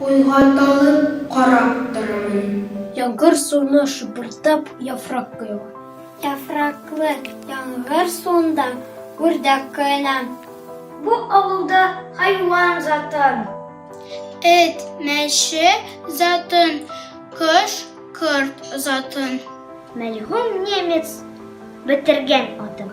Уйга талып карап торамын. Яңгыр суына шыпырдап яфрак коела. Яфраклы яңгыр суында үрдәк коена. Бу авылда хайван затын. Эт, мәче затын, кош, корт затын. Мәлгунь немец бетергән атын.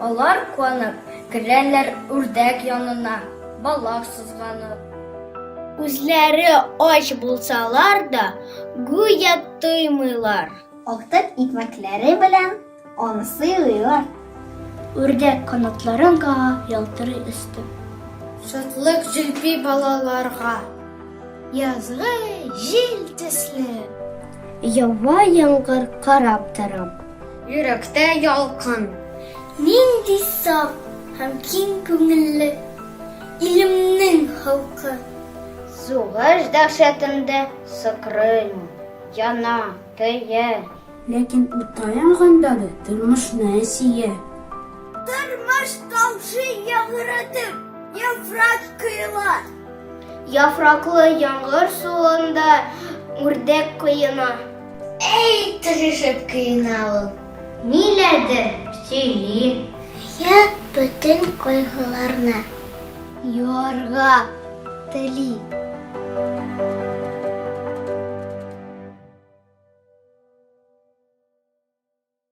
Алар куанып керәләр үрдәк янына, балак сызганып. Үзләре ач булсалар да, гүя тоймыйлар. Актык икмәкләре белән аны сыйлыйлар. Үрдәк канатларын кага, ялтырый өсте. Шатлык җилпи балаларга. Язгы җил төсле. Ява яңгыр карап торам. Йөрәктә ялкын. Нинди саф һәм киң күңелле илемнең халкы. Сугыш дәһшәтендә сыкрыймы, яна, көя. Ләкин утта янганда да тормышны сөя. Тормыш тамчы яңгыратып, яфрак коела. Яфраклы яңгыр суында үрдәк коена. Әй, тырышып коена ул. Ниләрдер сөйли. Я бөтен кайгыларны. Юарга тели.